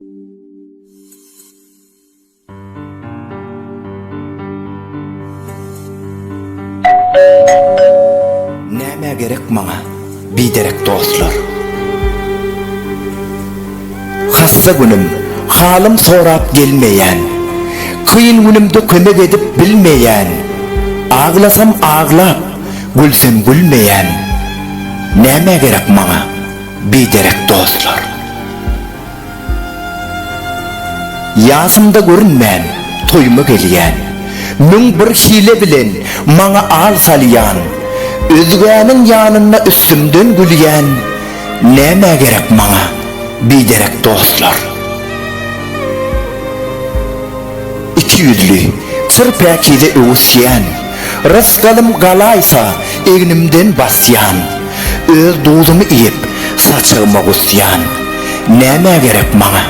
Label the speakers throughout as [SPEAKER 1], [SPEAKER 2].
[SPEAKER 1] Nämä gerek maňa biderek dostlar? Hassa günüm, halym sorap gelmeýän, Kyn günümde kömek edip bilmeýän, Aglasam aglap, gülsem gülmeýän, Nämä gerek maňa biderek dostlar? Ýasymda görünmän, toýuma gelýän. Müň bir hile bilen maňa al salýan. Özgäniň ýanynda üstümden gülýän. Nämä gerek maňa biderek dostlar? Iki ýüzli, çyr päkize öwüsýän. Rysgalym galaýsa egnimden basýan, Öz duzumy iýip, saçagyma gusýan. Nämä gerek maňa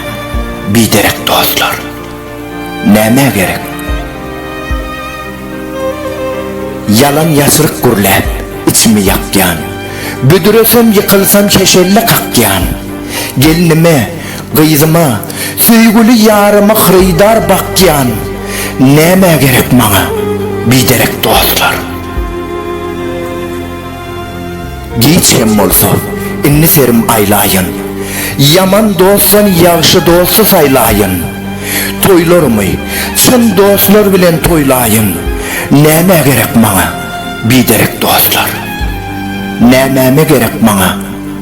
[SPEAKER 1] biderek dostlar? Nämä gerek? Ýalan-ýaşryk gürläp, içimi ýakýan, Büdresem, ýykylsam, heşelle kakýan. Gelnime, Gyzyma, söýgüli ýaryma hyrydar bakýan, nämä gerek maňa biderek dostlar? Giç hem bolsa, indi serim aýlaýyn, ýaman dostdan ýagşy dosty saýlaýyn. Toýlarymy çyn dostlar bilen toýlaýyn, nämä gerek maňa biderek dostlar? Nämäme gerek maňa